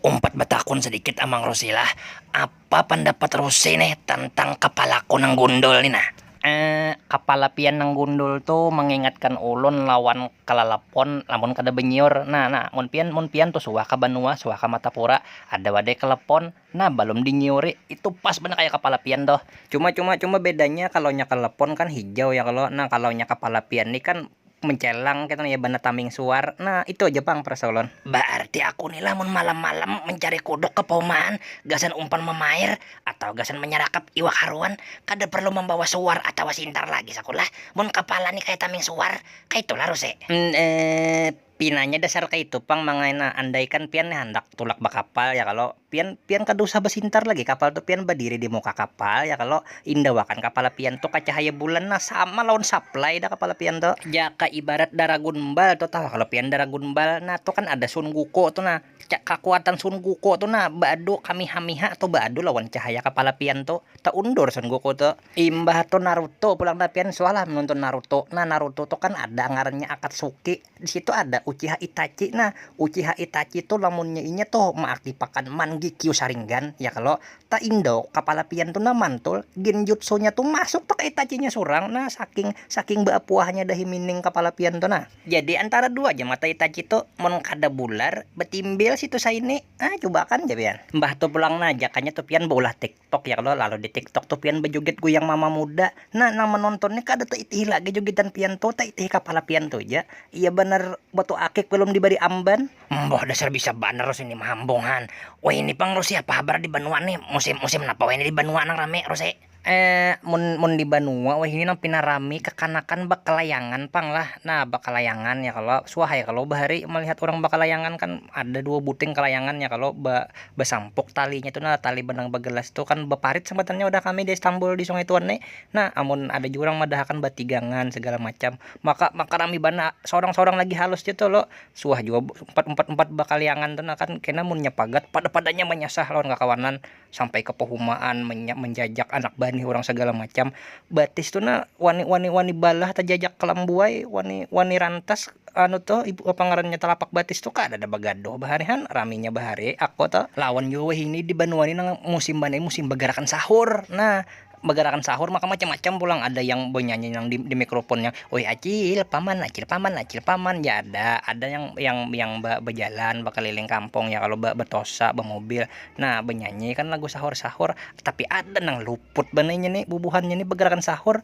Umpat batakun sadikit Amang Rusi lah, apa pandapat Rusi nih tantang kapalaku nang gundul ni nah? Eeh, kapala pian nang gundul tu mangingatkan ulun lawan kalalapon lamun kada banyiur. Nah, nah, mun pian, mun pian tu suah ka banua, suah ka Matapura, ada wadai kalepon, nah balum dinyiuri, itu pas banar kaya kapala pian tuh. Cuma, cuma, cuma bedanya kalonya kalepon kan hijau ya kalo, nah kalonya kapala pian ni kan Mencelang ketu nah ya bana taming suar. Nah itu aja pang perasa ulun. Baarti aku ni lamun malam malam mencari kuduk ke paumaan gasan umpan mamair atawa gasan menyerakap iwak haruan kada perlu membawa suar atawa sintar lagi sakulah mun kepala ni kaya taming suar kaitu lah ruse. Emm eepp. Pinanya dasar kaitu pang mangaina andaikan pian nih handak tulak bakapal ya kalo pian pian kada usah basintar lagi kapal tu pian badiri di muka kapal ya kalo indawakan kapala pian tu ka cahaya bulan nah sama lawan saplai dah kapala pian tu. Jaka ibarat daragun bal tu tahu kalo pian daragun bal nah tu kan ada sun guku tu nah ca kakuatan sun guku tu nah baadu kamiha miha tu baadu lawan cahaya kapala pian tu taundur sun guku tu. Imbah tu Naruto pulang dah pian suah lah menonton Naruto nah Naruto tu kan ada ngarannya Akatsuki di situ ada Uchiha Itachi nah Uchiha Itachi tu lamunnya inya tu meaktipakan Mangekyou Sharingan ya kalo ta Indo kapala pian tu nah mantul genjutsunya tu masuk tu ka Itachinya surang nah saking saking beapuahnya dahi mining kapala pian tu nah. Jadi antara dua ja mata Itachi tu mun kada bular betimbil situ saini ah cuba akan ja pian. Mbah tu pulang nah jakanya tu pian beulah tik. tiktok ya kalo lalu di tiktok tuh pian bejoget goyang mama muda nah nang menonton nih kada taitihi lagi jogetan pian tuh taitihi kapala pian tuh ja iya banar batu akik belum dibari amban. Mboh dasar bisa banar Rus ini mahambung han. Wayni pang Rus apa habar di banua nih musim musim napa wayni di banua nang rami Rus ai. Eh mun mun di banua wayni nang pina rami kakanakan bakalayangan pang lah nah bakalayangan ya kalo suah ya kalo bahari malihat urang bakalayangan kan ada dua buting kalayangan ya kalo ba besampuk talinya tu nah tali benang begelas tu kan beparit sambatannya wadah kami di Istanbul di Sungai Tuan ni nah amun ada jua urang madahakan batigangan segala macam maka maka rami banar seorang seorang lagi halus ja tu lo suah jua umpat umpat umpat bakaliangan tu nah kan kena munnya pagat pada padanya manyasah lawan kakawanan sampai ke pehumaan menjajak anak banih urang segala macam batis tu nah wani wani wani balah tajajak kalam buai wani wani rantas anu tuh ibu apa ngarannya talapak batis tuh kadada bagaduh bahari han raminya bahari aku tuh lawan jua wahini di banua ni nang musim banar musim bagarakan sahur nah bagarakan sahur maka macam macam pulang ada yang banyanyi nang di di mikroponnya oi acil paman acil paman acil paman ya ada ada yang yang yang ba bajalan bakaliling kampung ya kalo ba batosa bamobil nah banyanyi kan lagu sahur sahur. Tapi ada nang luput banar inya ni bubuhannya ni begerakan sahur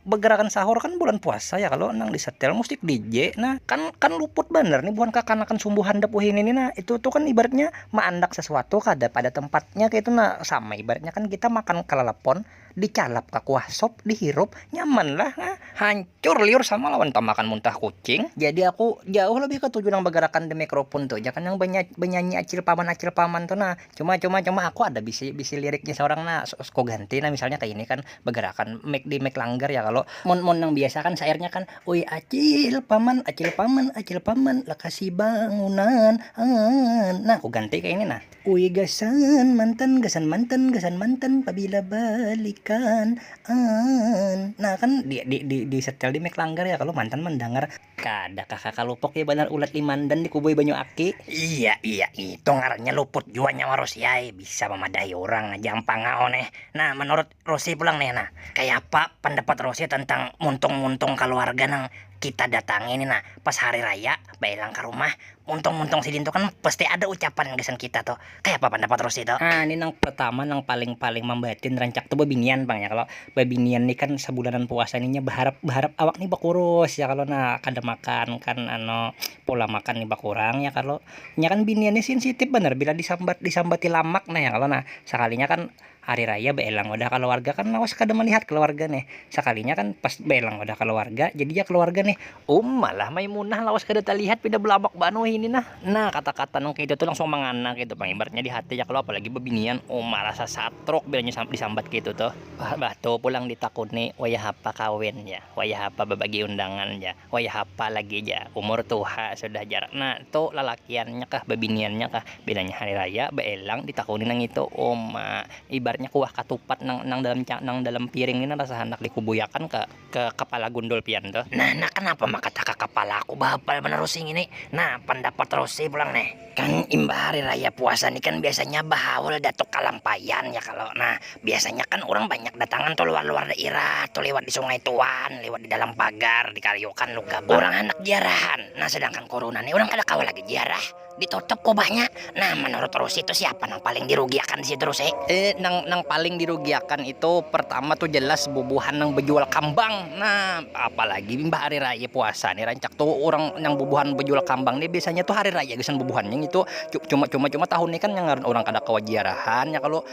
begerakan sahur kan bulan puasa ya kalo nang disetel musik DJ nah kan kan luput banar nih buhan kakanakan sumbu handap wahini ni nah itu tu kan ibaratnya maandak sesuatu kada pada tempatnya kaitu nah sama ibaratnya kan kita makan kalalepon dicalap ka kuah sop dihirup nyaman lah nah hancur liur sama lawan tamakan muntah kucing jadi aku jauh lebih ketuju nang begerakan the microphone tu ja kan nang banyanyi acil paman acil paman tu nah. Cuma cuma cuma aku ada bisi bisi liriknya seorang nah suku ganti nah misalnya kayak ini kan bergerakan make di make langgar ya kalau mun mun yang biasa kan sairnya kan ui acil paman acil paman acil paman lekasi bangunan an nah aku ganti kayak ini nah ui gasan mantan gasan mantan gasan mantan pabila balikan an nah kan di di di di setel di make langgar ya kalau mantan mendengar Kada kah kaka lupuk ya banar ulat limandan di kubui banyu aki. Iya iya itu ngarannya luput jua nyawa Rosi ai, bisa mamadahi urang aja am pangau neh. Nah manurut Rosi pulang nih nah, kayapa pandapat Rosi tentang muntung-muntung kaluarga nang kita datangi nih nah pas hari raya bailang ka rumah, muntung-muntung sidin tu kan pasti ada ucapan gasan kita tu. Kayak apa pendapat Rosi itu? Ah, ini nang pertama nang paling-paling membatin rancak tuh babinian pang ya kalau babinian nih kan sebulanan puasa nih berharap berharap awak nih berkurus ya kalau nah kada makan kan ano pola makan nih berkurang ya kalau nya kan binian nih sensitif bener bila disambat disambati lamak nah ya kalau nah sekalinya kan hari raya baelang wadah kaluarga kan lawas kada malihat kaluarga nih sakalinya kan pas baelang wadah kaluarga jadi ya kaluarga nih um malah maimunah lawas kada talihat pina balabak banar wahini nah nah kata-kata nang kaya itu tu langsung mangana kaitu pang ibaratnya di hati ya kalo apalagi babinian um marasa satruk bilanya disambat kaya itu tuh bah tuh pulang ditakuni wayah apa kawin jar wayah apa babagi undangan jar. Wayah apa lagi ja, umur tuha sudah jar nak tu lalakiannya kah babiniannya kah, bilanya hari raya baelang ditakuni nangitu uma, ibaratnya kuah katupat nang nang dalam nang dalam piring ni rasa handak dikubuyakan ka ka kapala gundul pian tu. Nah, nah kanapa maka taka kapalaku bahapal banar usi ngini, nah pandapat rosi pulang nih. Kan imbah hari raya puasa ni kan biasanya bahaul datuk kalampaian ya kalo nah biasanya kan urang banyak datangan tu luar luar dairah tu liwat di sungai tuan liwat di dalam pagar di kariukan lu gabak urang handak jiarahan nah sedangkan kuruna ni urang kada kawa lagi jiarah di tutup kubahnya nah manurut rusi tu siapa nang paling di rugi akan disitu rusi. Nang nang paling dirugiakan itu pertama tu jelas bubuhan nang bejual kambang. Nah, apalagi imbah hari raya puasa nih rancak tuh orang yang bubuhan bejual kambang nih biasanya tuh hari raya gasan bubuhannya ngitu. Cuma cuma cuma tahun nih kan yang ngaran orang kada kawa jiarahan ya kalu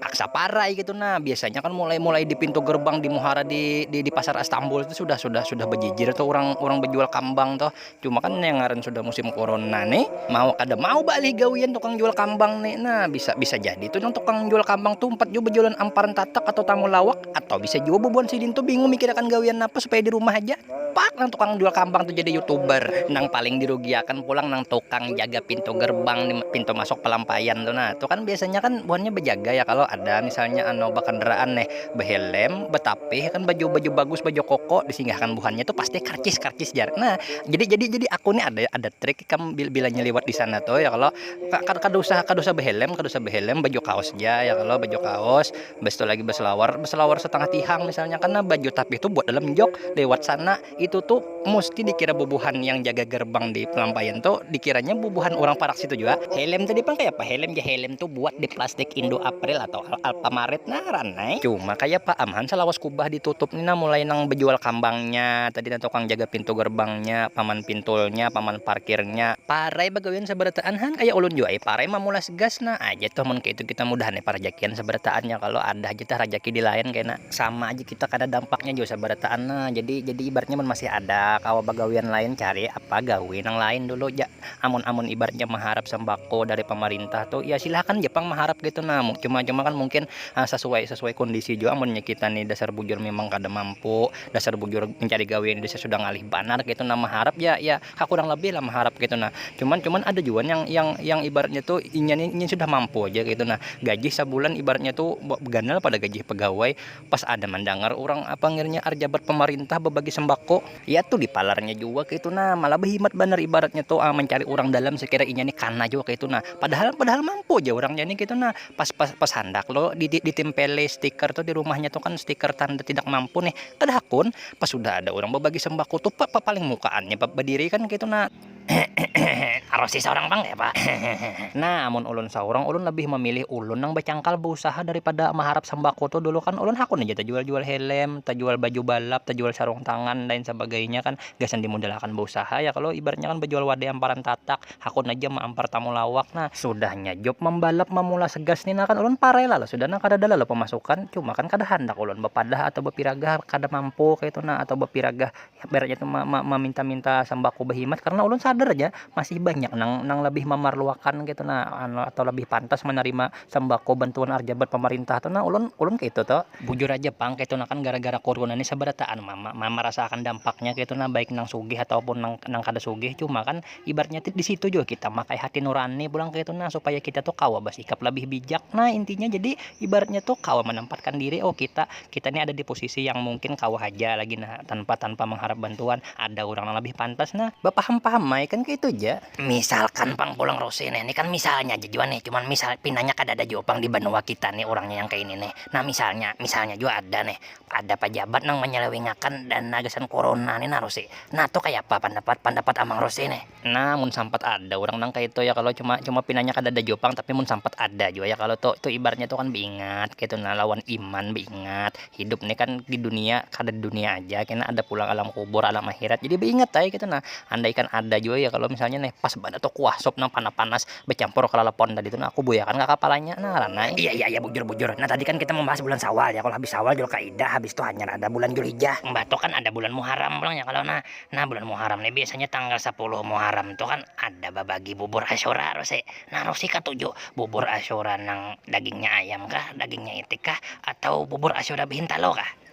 paksa parai gitu nah. Biasanya kan mulai mulai di pintu gerbang di muhara di di pasar Astambul tuh sudah sudah sudah bejijir tuh orang orang bejual kambang tuh. Cuma kan yang ngaran sudah musim corona nih, mau kada mau balih gawian tukang jual kambang nih. Nah, bisa bisa jadi tu nang tukang jual kambang tu umpat jua bajualan amparan tatak atau tamulawak atau bisa jua bubuhan sidin tu bingung mikirakan gawian napa supaya di rumah haja. Pak nang tukang jual kambang tu jadi youtuber. Nang paling dirugiakan pulang nang tukang jaga pintu gerbang di pintu masuk palampaian tu nah. Tu kan biasanya kan buhannya bajaga ya kalo ada misalnya anu bakandaraan nih. behelem, betapih kan baju baju bagus baju koko disinggahkan buhannya tuh pasti karcis karcis jar nah jadi jadi jadi aku nih ada ada trik ikam bila nyeliwat di sana tuh ya kalau kada usah kada usah behelem kada usah behelem baju kaos ja ya kalau baju kaos bistu lagi beselawar beselawar setengah tihang misalnya karna baju tapih tuh buat dalam jok lewat sana. itu tu musti dikira bubuhan yang jaga gerbang di pelampaian tu dikiranya bubuhan urang parak situ jua. Helm tadi pang kayapa? Helm ja helm tu buat di plastik Indo April atau Alfamaret ngaran ai. Cuma kayapa am han salawas kubah ditutup ni nah mulai nang bejual kambangnya tadi nah tukang jaga pintu gerbangnya, paman pintulnya, paman parkirnya, parai bagawian sabarataan han kaya ulun jua ai parai mamulas gas nah aja tuh mun kaya itu kita mudahan ai parajakian sabarataan ya kalo ada haja tah rajaki di lain kena sama aja. Takada dampaknya jua sabarataan nah, jadi jadi ibaratnya mun masih ada kawa bagawian lain cari apa gawi nang lain dulu ja, amun amun ibaratnya maharap sambako dari pamarintah tu ya silakan ja pang maharap kaitu nah, cuma cuma kan mungkin sasuai sasuai kondisi jua amunnya kita ni dasar bujur mimang kada mampu dasar bujur mencari gawian ini sudah ngalih banar kaitu nah maharap ya ya ha kurang lebih lah maharap kaitu nah, cuman cuman ada jua yang yang yang ibaratnya tu inya ni inya sudah mampu haja kaitu nah gaji sabulan ibaratnya tu ganal pada gaji pagawai. Pas ada mandangar urang panggilnya arjabat pamarintah babagi sembako, ya tu dipalarnya jua kaitu nah, malah bahimat banar ibaratnya tu mancari urang dalam sekira inya ni kana jua kaitu nah, padahal padahal mampu ja urangnya ni kaitu nah, pas pas pas handak lo di di ditimpeli stiker tu dirumahnya tu kan stiker tanda tidak mampu nih, kada hakun pas sudah ada urang babagi sembako tu pa pa paling mukaannya badiri kan kaitu nah. Karosi saurang pang kayapa? Nah, amun ulun saurang, ulun labih mamilih ulun nang bacangkal bausaha daripada maharap sambako tu. Dulu kan ulun hakun haja tajual-jual helm, tajual baju balap, tajual sarung tangan, lain sabagainya kan. Gasan dimudalakan bausaha ya kalo. Ibaratnya kan bajual wadai amparan tatak, hakun haja maampar tamulawak nah. Sudahnya job mambalap mamula segas ni nah kan, ulun parai lalu sudah nah. Kadada lalu pamasukan. Cuma kan kada handak ulun bapadah atau bapiragah kada mampu kaytu nah atau bapiragah. ibaratnya tu maminta-minta sambako bahimat karna ulun sadar ja masih banyak nang nang labih mamarluakan ketu na anu atau labih pantas manarima sambako bantuan arjabat pamarintah tu na ulun ulun kaitu tu bujur haja pang ketu na kan gara-gara kuruna ni sabarataan ma- ma- marasaakan dampaknya ketu na baik nang sugih ataupun nang kada sugih cuma kan ibaratnya di situ juga kita makai hati nurani pulang kayak itu nah supaya kita tuh kawa bersikap lebih bijak nah intinya jadi ibaratnya tuh kawa menempatkan diri oh kita kita ini ada di posisi yang mungkin kawa aja lagi nah tanpa tanpa mengharap bantuan ada orang yang lebih pantas nah berpaham paham mai kan kayak itu aja misalkan pang pulang Rose nih ini kan misalnya aja juga nih cuman misal pinanya kada ada juga pang di benua kita nih orangnya yang kayak ini nih nah misalnya misalnya juga ada nih ada pajabat nang manyalawingakan dana gasan kuruna ni nah Rusi, nah tu kaya apa pandapat pandapat Amang Rusi nih. Nah mun sampat ada urang nang kaya itu ya kalo cuma cuma pinanya kadada jua pang tapi mun sampat ada jua ya kalo tu tu ibaratnya tu kan beingat kaitu nah lawan iman beingat hidup ni kan di dunia kada di dunia aja kena ada pulang alam kubur alam akhirat jadi beingat ai kaitu nah andaikan ada jua ya kalo misalnya nih pas banar tu kuah sup nang panas panas. Becampur kelalapon tadi tu nah aku buyakan ka kapalanya nah ngaran ai. Iya iya iya bujur bujur. Nah tadi kan kita membahas bulan sawal ya kalo habis sawal julkaidah habis tu hanyar ada bulan julhijjah. Mbah tu kan ada bulan muharam pulang ya kalo nah. Nah bulan muharam ni biasanya tanggal sapuluh muharam tu kan ada babagi bubur asyura rosi. Nah rosi katuju bubur asyura nang dagingnya ayam kah dagingnya itik kah atau bubur asyura behintalu kah.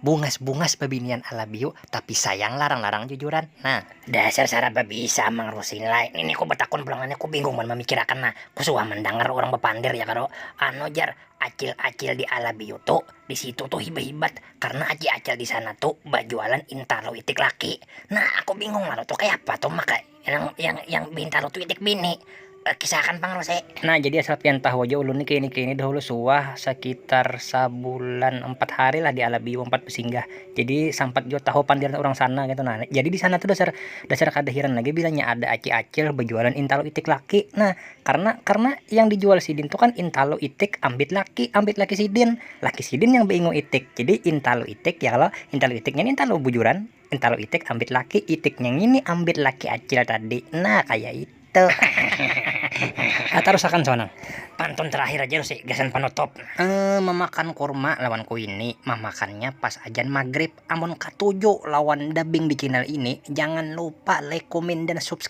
Bungas-bungas babinian alabiu, tapi sayang larang-larang jujuran nah. Dasar sarap babisa amang rusi ni lai, nini ku batakun pulang ngini ku bingung mun mamikirakan nah, ku suah mandangar urang bapandir ya kalo, anu jar acil-acil di alabiu tu di situ tu hibat-hibat karna aci acil di sana tu bajualan intalu itik laki, nah aku bingung lalu tu kayapa tu maka. Yang yang yang bintaro tu itik bini. Eh, kisahakan pang Rose. Nah, jadi asal pian tahu aja ulun ni kaini kaini dahulu suah sakitar sabulan empat hari lah di Alabiu empat besinggah. Jadi sampat jua tahu pandiran urang sana gitu nah. Jadi di sana tu dasar dasar kada hiran lagi bilanya ada acil-acil bajualan intalo itik laki. Nah, karena karena yang dijual sidin tu kan intalo itik ambit laki ambit laki sidin. Laki sidin yang baingu itik. Jadi intalo itik ya kalo, intalo itik ngini intalo bujuran. Entalu itik ambit laki, itiknya ngini ambit laki acil tadi, nah kaya itu. Hahaha. Tarusakan Sonang. Pantun terakhir aja Rusi, gasan panutup. Emm, mamakan kurma lawan kuini, mamakannya pas ajan magrib. Amun katuju lawan dubbing di channel ini, jangan lupa like, kumin, dan subscribe.